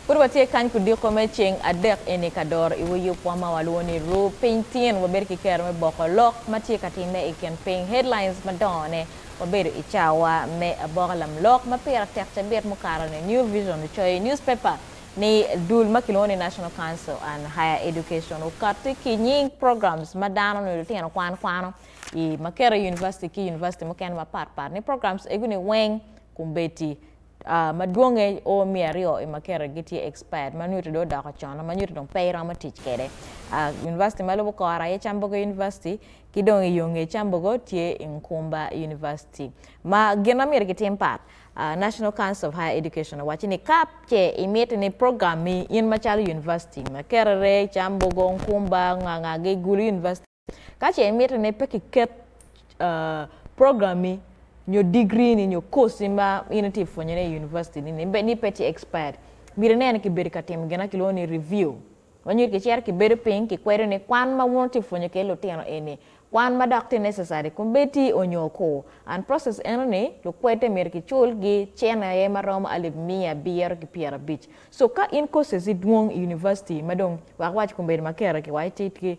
Pud watye kany kudiko me ceng adek eni ka doro iwa yub wa ma walwongo ni Ru Piny Tyen. Wabedo ki kero me boko lok ma tye ka timme i kin piny, headlines, madongone. Wabedo i cawa me aboka lamlok ma pire tek cabit mukato ni New Vision ocoyo i newspaper ni dul ma kilwongo ni National Council on Higher Education okatti ki nying programs ma dano nyo lutino kwan kwano i ma keto i University ki University mukene mapat pat ni programs egu ni weng Kumbeti, madwonge o miya aryo i makete gitye expired ma nyuto dong odoko con ma nyuto dong pe iromo tic kwede. University ma lubo kora aye Cambogo University ki dong i yo nge Cambogo tye i Nkumba University. Ma gin ma myero kitim pat, National Council of Higher Education owacci ni ka ce imiti ni program mi in macalo University, Makerere, Cambogo, Nkumba, Nganga gigulu University, Ka ce imito ni pe kiket program-mi nyo digiri-ni nyo koc-ci ma in itye ka pwonyone i univaciti-ni ni bed ni pe tye expired, myero ine ni kibedo ka timo gin ma kilwongo ni review. Ma nyo kicito kibedo piny kikwedo ni kwan ma wun wutye ka pwonyo kwede lutino eni kwan ma dok tye necessary kun bed tye onyo ko. And process enoni lukwede myero kicul-gi cene aye ma romo alip miya abiro ki pyerabic. So ka in koc-ci dwong i univaciti ma dong wek wawac kun bedo ma kare ki waci tye ki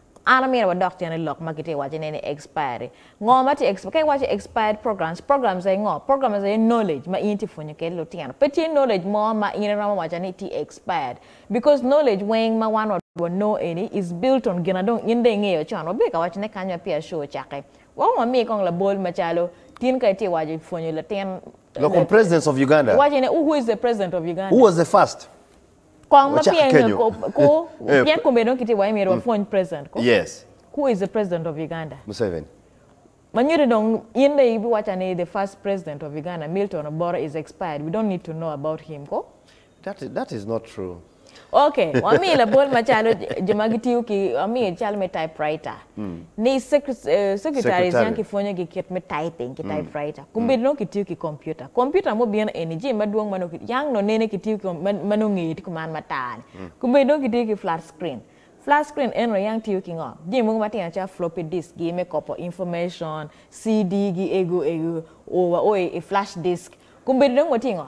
An amyero wadok cen i lok ma kitye waco ne ni expiry. Ngo ma tye expiry? Ka iwaco expired programs, programs aye ngo? Programs aye knowledge ma in itye pwonyo kede lutino. Pe tye knowledge mo ma in iromo waco ni tye expired. Because knowledge weng ma wan wa wa no eni is built on gina dong in dong ingeyo con. Wa biye ka waco ne kany ma peya show ocake. Wa kong wamiye kong labol ma calo tin ka itye waco i pwonyo latin. Lok kom presidents of Uganda. Iwaco ne who is the president of Uganda? Who was the first? Kong ma Wacak pien kenyo. ku Eh, pien kong bene dong kitye wa myero wapwony president ko. Yes. Who is the president of Uganda? Museveni. Ma nyuto dong in dong ibiwaca ni the first president of Uganda Milton Oboro is expired we don't need to know about him ko. That is, that is not true. Okay, wami labol macalo jo ma gitiyo ki wami cal me typewriter. ni secretaries yam kipwonyo gi kit me typing ki typewriter kombeddi nongo kitiyo ki computer computer ma obino eni jami madwong ma nongo yang nongo nene kitiyo ki ma nongo ngeye tye kuman matar ni kombeddi nongo kitiyo ki flat screen flat screen eno yang tiyo ki ngo jami mogo matino calo floppy disk gi me kopo information CD gi ego ego oo wa oo i flash disk kombeddi dong watye ngo.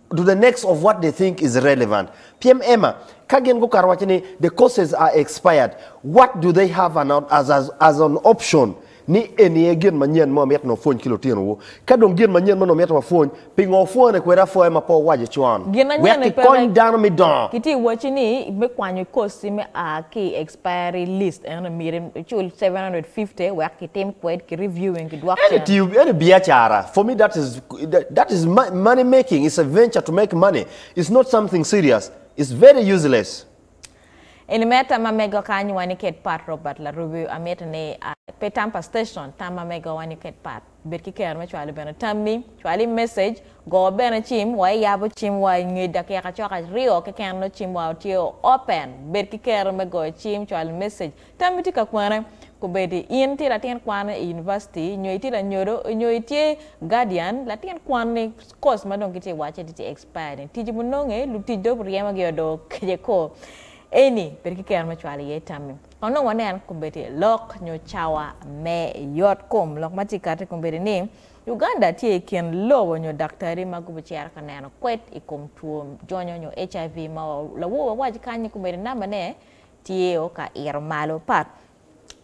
to the next of what they think is relevant pyem ema ka gin gukato waco ni the courses are expired what do they have an, as, as, as an option ni eni aye gin manyen ma wamito ni wapwony ki lutinowu ka dong gin manyen meno wamito wapwony pingo wapwone kwede apwoya ma pe wawaco con Gin wek anyen-ni pe kikony wek dano me dongo kitye ka wacci ni me kwanyo i course-ci me a ki i expiry list eno myero icul seven hundred and fifty wek kitim kwed ki reviewing ki dwok Any cen. tiyo, any biacara, for me that is that is money making it's a venture to make money it's not something serious it's very useless Eni mere tamma mego ka anywaa ni ket pat Robert Larubi amito ni a pe tam pa station tamma mego wa ni ket pat bed ki kero me cwalo bene tammi cwal i message go bene cim wa iyabo cim wa inge dakika cok aryo keken nongo cim wa tye o open bed ki kero me goyo cim cwalo message Tam itye ka kwene? Kubedi in tye latin kwan i univaciti, nyo itye lanyodo, nyo itye guardian, latin kwan ni course ma dong gitye wace ni tye expired ni tic bu nonge, lutic dong bu ryemo gi o dong okece ko. Eni bedo ki kero me cwalo iye tammi. Kong dong wanen kubedi lok nyo cawa me yot kom. Lok ma tye kati kubedi ni Uganda tye i kin lobo nyo daktari ma gubu cero ka neno kwed i kom two jonyo nyo HIV ma wa lawowa wawac kany ni kubedi number ne tye o ka ito malo pat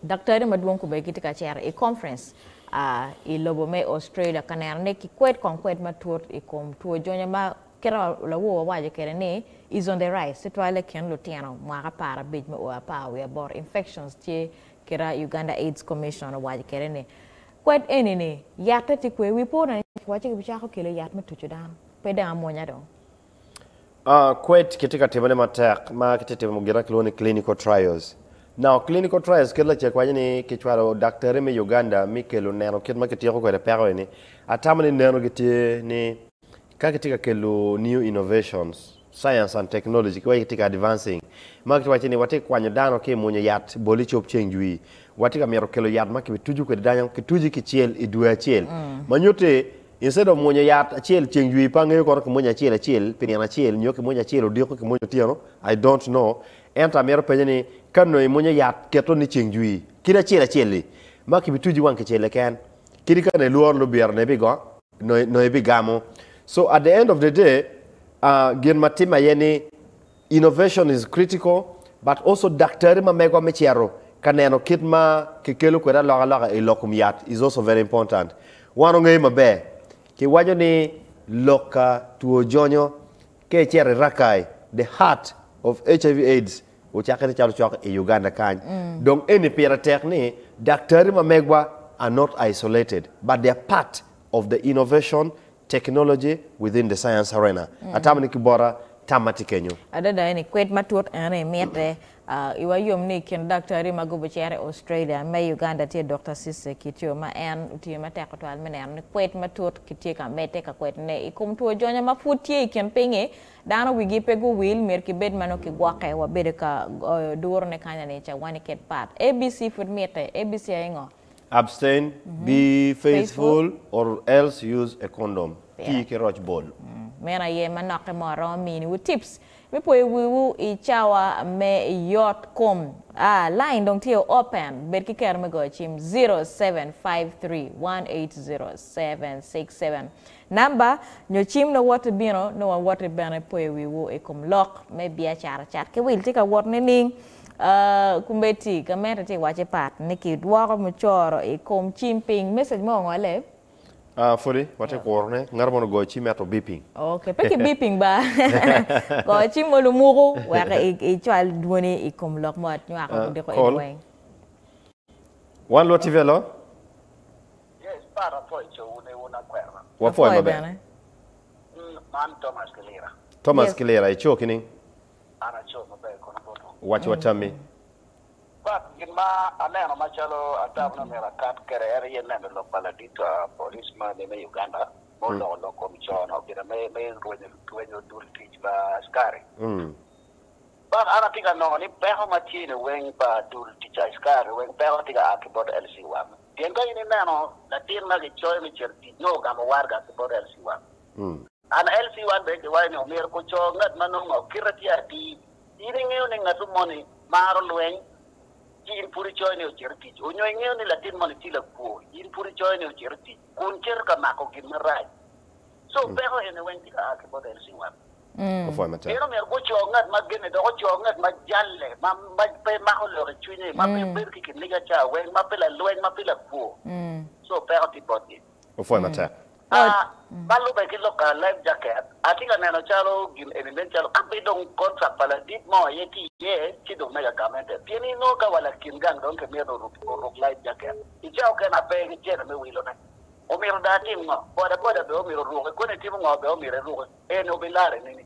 daktari madwong kobedi gitye ka cito i conference i lobo me Australia ka neno ni ki kwed kong kwed matut i kom two jonya ma kit ma lawor wawaco kede ni is on the rise tutwale i kin lutino mwaka apar abic me o apar wiye aboro infections tye kira Uganda aids commission owaco kede ni kwed eni ni yatte tye kwer wi po dong kiwaco ni kibicako kelo yat me tucu dano pe dong amwonya dong. Kwed kitye ka timone matek ma kitye timo gin ma kilwongo ni clinical trials. Now clinical trials kit lacek waco ni kicwalo daktari me Uganda mi kelo neno kit ma kityeko kwede peko eni. Atamo ni neno gi tye ni ka kitye ka kelo new innovations, science and technology ki waco kitye ka advancing ma kitye waco ni watye kwanyo dano ki mwonyo yat boli cob ceng jwi. Watye ka mito kelo yat ma kibituju kwede dano kituji kicel i dwe acel ma nyuti Instead of mwonyo yat acel ceng jwi pa angeyo kono kimwonyo acel acel pi nino acel nyo kimwonyo acel odiko kimwonyo otyeno I don't know ento amito penyo ni ka nongo imwonyo yat keto ni ceng jwi kit acel acel li ma kibi tuji wang kicel keken kadi ka nongo ilworo lubira nongo ibigo nongo ibigamo so at the end of the day ahh gin ma timme aye ni Innovation is critical but also daktari ma megwa me cito ka neno kit ma ki kelo kwede alokaloka i lok kom yat is also very important. Wan ongeyo maber, ki waco ni lok ka two jonyo ka icito i Rakai, the heart of HIV aids ocakke ni calo cok i Uganda kany. Dong eni pire tek ni daktari ma megwa are not isolated but they are part of the innovation Technology within the science arena, atamo ni ki bota tam ma tye kenyo. Adada eni kwed matut ene mitte. I wa yom ni i kin daktari ma gubo cito i Australia me i Uganda tye Dokta Cisse Kityo ma en otiyo matek tutwal me neno ni kwed matut kitye ka medde ka kwed ne i kom two jonya ma pud tye i kin pinyi dano wigi pe guwil myero ki bed ma nongo ki gwoke wa bedo ka goyo duru ne kanya ni ca wani kit pat ABC pud mitte ABC aye ngo? Abstain, be faithful, or else use a condom, Tii ki roc bol. Meno aye manokke mo aromo miniwu tips me poyo wiwu i cawa me yot kom. A. Line dong tye open, bed ki kero me goyo cim, zero, seven, five, three, one, eight, zero, seven, six, seven. Namba nyo cim nongo woti bino, nongo woti bene poyo wiwu i kom lok me biacara cat ki wil tye ka wot nining? Committee ka mete tye waco pat ni ki dwoko mucoro i kom cim piny. Message mo ongole? Ah, pwodi watye kuro ne. Ngato mono ogoyo cim ento beeping. Okay, pe ki beeping ba. Go cim mo lumuku wek i cwal dwoni i kom lok mo anywako gudiko in weng. One Lwot TV hello. Yes Pat apwoyo co wu ne wun akwena. Wapwoyo maber. Man Thomas ki lira. Thomas ki lira ico kining? An aco maber kono boto. Waci wa tammi. But gin ma aneno macalo atamo ni omyero akat kede en aye neno lok pa ladit police ma ni me Uganda ma oloko lok kom co no gina me me rwenyo rwenyo dul tic pa askari. But an atye ka nongo ni peko ma tye ni weng pa dul tic pa askari weng peko tye ka a ki bot LC wang. Pien ka in ineno latin ma gicoyo me cito tic nongo ogamo warga ki bot LC wang. NLC, Wan bene kiwaco ni omyero guco ngat ma nongo kite tye atir. In ingeyo ni ngat moni maro lweny, ci in pud icoyo ni ocit i tic? Onyo ingeyo ni latin moni tye lakwo, in pud icoyo ni ocit i tic, kun cito ka mako gin marac? Co peko eni weng tye ka a ki bot LC, Wan bene omyero guco ngat ma genne, dok oco ngat ma jalle, ma pe mako lok i cwinye, ma pe bedo ki kiniga ca weng, ma pe lalweny, ma pe lakwo. Co peko tye botgi. opwoyo matek. A Ma lubbe ki lok ka Life Jacket, atye ka neno calo gin eni nen calo kabedo dong kontrak pa ladit mo aye tye iye ci dong mega gamente. Pien inongo ka wa lakin gang dong kimito oruk Life Jacket i cawa okene ma pe gicito me wilone, omito dong atim ngo? Bodaboda bene omito oruke, koni itimo ngo bene omito iruke, eni obilarre nini?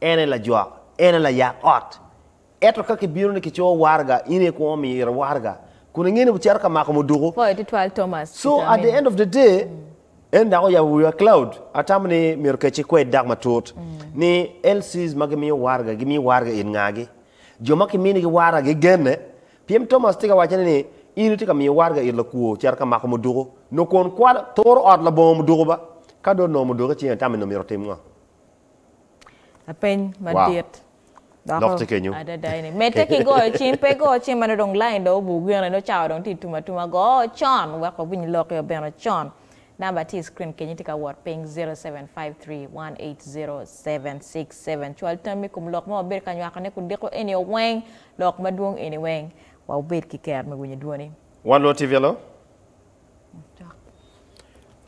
En aye lajwak, en aye layak ot. Ento ka kibino ni kicoyo waraga, in aye kwongo miyo iro waraga, kun ingeyo ni wucito ka mako muduku. Pwoyo tutwal Thomas So at the Kitami. end of the day, en dok oyabo wiwa Cloud, atamo ni myero kec ikwed dok matut ni LCs ma gimiyo waraga, gimiyo waraga it ngagi? Jo ma kiminigi waraga gigenne? Pien Thomas tye ka wacone ni in itye ka miyo waraga it lakwo cito ka mako muduku, nyo kun kwalo, turo ot labongo muduku ba. Ka dong onongo muduku icinge, itamo ni omyero otim ngo? Lapeny madit doko Lok tye kenyo. adada eni. Medde ki goyo cim, pe igo cim ma nongo dong lain dong obur gene, nongo cawa dong tye tum atuma. Go con wek wawiny lokki obino con. Namba tye i screen kenyo tye ka wot piny 0753180767. Cwal tammi i kom lok ma wabedo ka nywakone kun diko enio weng, lok madwong eni weng. Wa wubed ki ker me winyo dwoni. Wan lwoti Velo? Cok.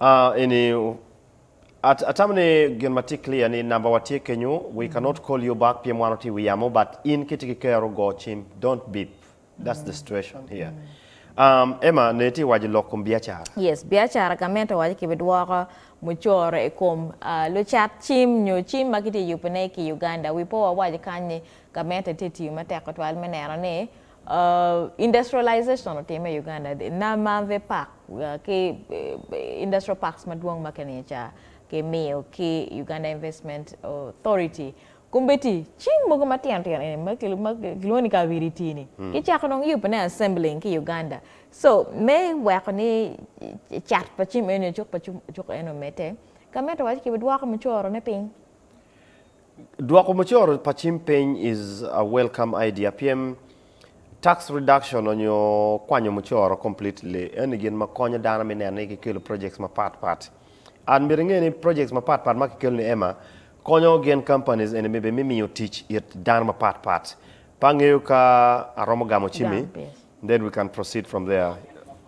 Ah, eni Atamo ni gin ma tye clear ni number wa tye kenyo, we cannot call you back pien wan watye i wi yamo but in ka itye ki kero go cim don't beep that's the situation here. Um, Emma ne itye waco lok kom biacara. Yes, biacara gamente waco ki bi dwoko mucoro i kom uh, lucat cim nyo cim ma kitye yubo ne ki Uganda. We po wawaco kany ni gamente tye tiyo matek tutwal me neno ni Industrialization otimme i Uganda di? Namanve Park ki Industrial Parks madwong ma keniye ca kimiyo ki Uganda Investment Authority, Kumbeti, cing mogo matino tino eni ma kilwongo ni Kabiriti ni, kicako dong yubone, assembling, ki Uganda. So, me weko ni cat pa cim eni, cuk pa cuk eni omedde, Gamente owaco kibidwoko mucorone piny. Dwoko mucoro pa cim piny is a welcome idea pien tax reduction onyo kwanyo mucoro completely eni gin ma konyo dano me neno ni kikelo projects mapat pat. And myero inge ni projects mapat pat ma kikelo ni ema konyo gen companies eni me me miyo tic it dano mapat pat. Pe angeyo ka aromo gamo cimi then we can proceed from there.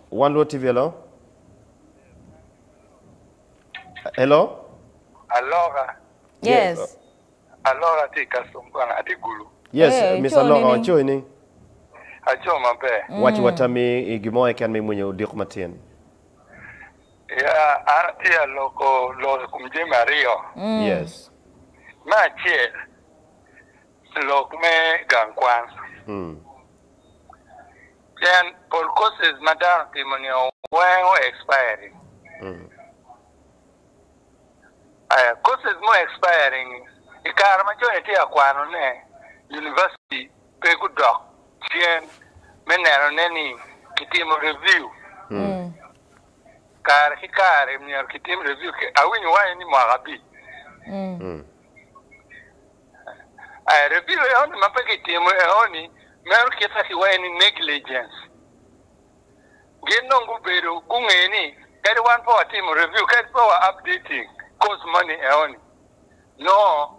One Luo TV hello. Hello? Aloka. Yes. Aloka atye i custom kwana, atye gulu. Yes, Hey, Miss Aco Aloka, nining? waco i ning? Aco maber. Wac wa tammi i gin mo keken ma imwinyo odiko matin. Ya, an atye a loko lok i kom jami aryo. Yes. Me acel, lok me gang kwan. Mm. Pien pol courses ma dano timo nio weng o expiring. Aya courses mu expiring ni i kare ma cone tye ka kwano ne University pe gu dok cen me neno ne ni ki timo review kare ki kare myero ki tim review awinyo waco ni mwaka abic. Aye rebiyo eoni ma pe gitimo eoni meno kite ki wae ni negligence. Gin dong gubedo gunge ni kadi wan pe watimo rebiyo kadi pe wa updating course moni eoni nongo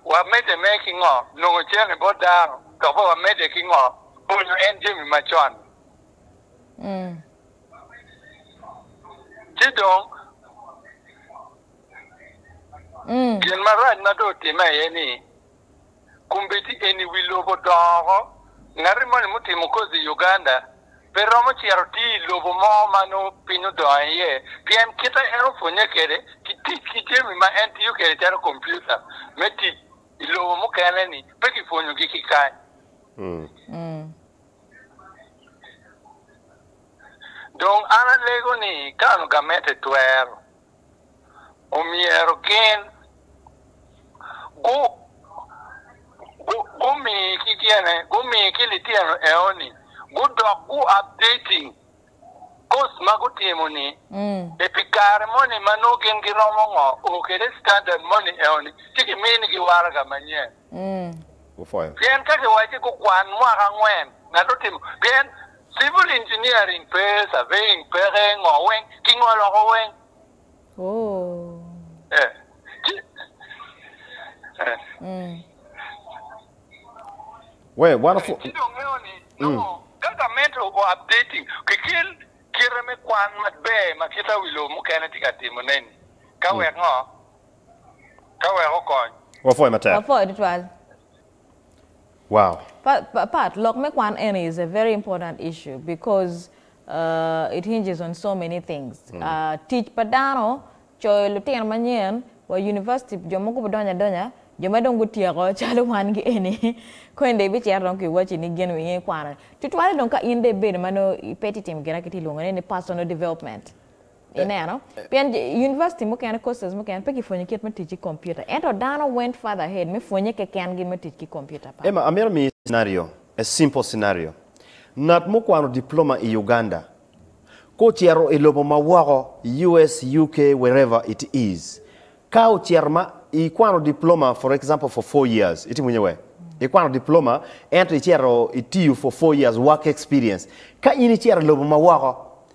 wa mede me ki ngo nongo cene bot dano dok be wa mede ki ngo pwonyo en jami ma con ni. Ci dong. Gin marac ma dong otimme aye ni, kombeddi eni i wi lobo odongo oko. Ngati moni mutimo kozi i Uganda pe romo cito tiyo i lobo mo ma nongo piny odongo iye, pien kite en opwonnye kwede ki tic ki jami ma en tiyo kwede calo kompiuta me tic i lobo mukene-ni pe kipwonyogi ki kany. Dong an alego ni kano gamente twero omyero gin gumi ki tyene, gumi ki litino eoni gudok gu updating course ma gutimo ni e pi kare moni ma nongo gin giromo ngo o kede standard moni eoni ci ki mini gi waraga manyen. Pien ka kiwacci gukwan mwaka angwen, ngat otimo, pien civil engineering pe, surveying peke, ngo weng, kingo loko weng. Ci dong ngeyo ni nongo ka gamente o updating kikel kite me kwan maber ma kit awi lobo mukene tye ka timone-ni, ka wek ngo? Ka wek okony. Wapwoye matek. Wapwoye tutwal. Wow. Pat, lok me kwan eni is a very important issue because it hinges on so many things. Tic pa dano, coyo lutino manyen wa University, jo mogo gubidonyo adonya, jo ma dong gutyeko calo wan gi eni, koni dong ibicito dong ki waci ni gin wiye kwano ni. Tutwale dong ka in dong ibedo ma nongo pe itye ka timo gin ma kitye ka lwongo ni personal development. Ineno? Pien yunivaciti mukene, courses mukene pe kipwonyo kit me tic ki kompiuta, ento dano went farther ahead me pwonye kekengi me tic ki kompiuta. Pat. Emma, amito miyi scenario, a simple scenario. Ngat mukwano diploma i Uganda, ka ocito i lobo ma woko, US, UK, wherever it is, ka ocito ma ikwano diploma for example for four years, itimo nye wek? Ikwano diploma ento icito itiyo for four years work experience. Ka in icito i lobo ma woko,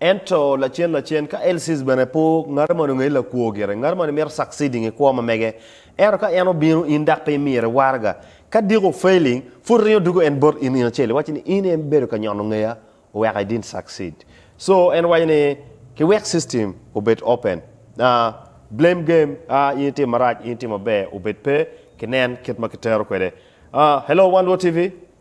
Ento lacen lacen, ka Elsiz bene po, ngati moni ongeyi lakwo gire. Ngati moni mito succeeding i kwo ma mege. Ento ka en obino in dok pe imire waraga, ka diko failing, pud ringo dugo en bot in in acel, iwaci ni in en bedo ka nyono ngeya oweka i didn't succeed. So en waco ni ki wek system obed open, ah, blame game, ah, in itimo marac, in itimo maber, obed pe, ki nen kit ma ki tero kwede. Ah, hello Wan Luo TV.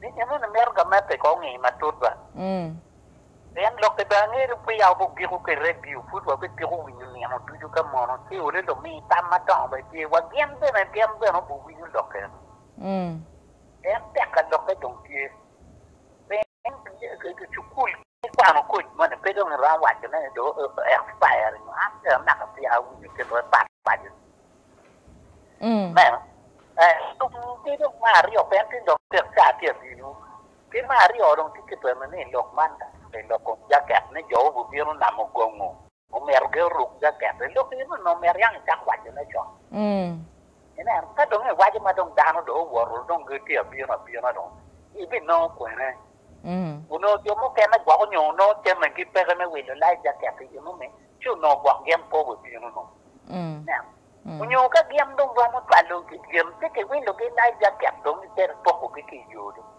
ni gin eni mito gamette i kor ngeye matut ba. Pien lok kede angeri peya wabigiko ki redio, pud wabigiko winyo nino ducu ka mono ci olo lumi tam madongo bene tye, wa gin bene gin bene obiwinyo lok eni. Pien tek ka lokke dong tye. Pien cukul. Ikwano koc moni pe dong iromo waco ne ni dong o expire nyo an pe anaka pien awinyo kit wek pat paco ni me ki dong me aryo pien tin dong tek caa tye abino ki me aryo dong tye ki twero ni lok man dok i lok kom jaket ni jo gubino namo gongo. Omyero ge oruk jaket. I lok eno onongo myero yang icak waco ne con. Inen, ka dong iwaco ma dong dano dong owoto dong gitye abino abina dong ibinongo kwene? Onongo jo mukene gwok onyo onongo came gi peke me wilo life jacket i eno ni ci onongo gwok gin pe owe bino dong. Inen, onyo ka gin dong romo twalo gin ci kiwilo gi life jacket dong gitero poko gi ki i yo dong.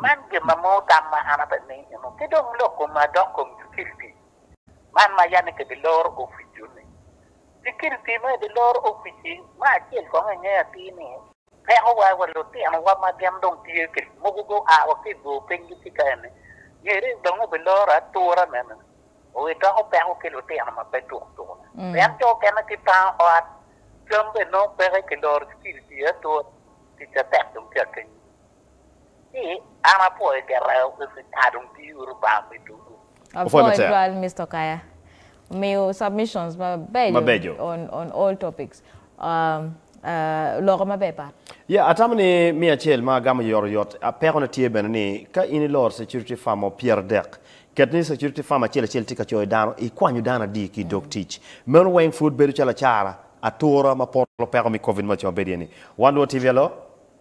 Man gin ma mor tam ma an ape ni eno ki dong lok koma adok kom sikiliti man ma yanne ki bi loro oficu ni sikiliti me bi loro ofici me acel kong i nge atir ni peko wa wa lutino wa ma gin dong tye ki mogo go a wa ki ibor piny gi ci ka eni ngeri dong i bi loro atura me ni o i doko peko ki lutino ma pe tuk tuk ni pien jo okene ki pango ot cam bene nongo peke ki loro sikiliti aye atura tic atek dong tye akenyo. An apwoyo gire Mister dong tii uru lubanga me ducu. Apwoyo matek. Apwoyo twal Mister Kaya omiyo submissions mabeco on all topics loko maber pat. Yeah atamo ni miya acel ma agamo yot oyot. Peko ne tye bene ni ka in iloro security firm mo pyer adek ket ni security firm acel acel tye ka coyo dano ikwanyo dano adi ki idog tic. Meno weng pud bedo calo acara atura ma poto peko me covid ma co bedo iye ni. Wan luo TV alo.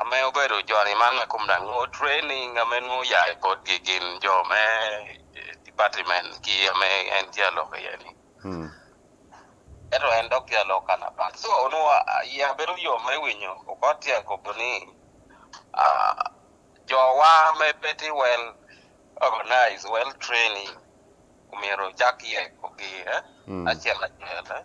Ame obedo joni man ma kom rang o training ame nongo oya i potgi gin jo me department ki ame en tye alok iye ni. Eto en dok tye alok kan apat. So onongo iya bedo yom me winyo okot tye akobo ni jo wa me petty well organize well training omyero ocak yeko gi acel acel.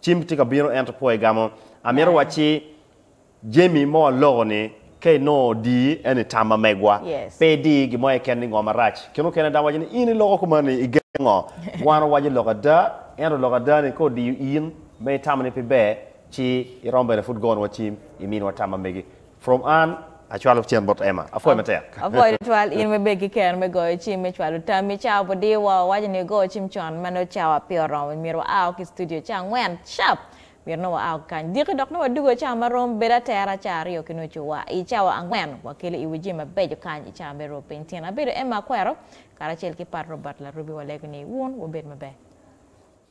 Cim tye ka bino ento po igamo. Amito wacci Jemi mo aloko ni ka inongo odi en ni tam ma megwa pe idi gi mo keken ni ngo marac kene okene dano waco ni in iloko kuman ni igen ngo wan owaco loko ada ento loko ada ni ka odiyo in ma itamo ni pe ber ci iromo bene pud gonwa cim iminwa tam ma megi From Ann, Acwalo cen bot Emma. Apwoyo matek. Apwoyo tutwal in webed ki kero me goyo cim me cwalo tammi. Cawa pu dir wa, wawaco ni ogo cim con ma nongo cawa pe oromo. Myero wa ao ki studio ca angwen cap. Myero nongo wa ao ki kany diki dok nongo wa dugo cawa ma rom bedo atera ca aryo ki nucu. Wa i cawa angwen wa kelo i wi jami mabeco kany i cawa me ruu piny. Tyen abedo Emma Akwero karacel ki Pat Robert Larubi wa lego ni wun wubed maber.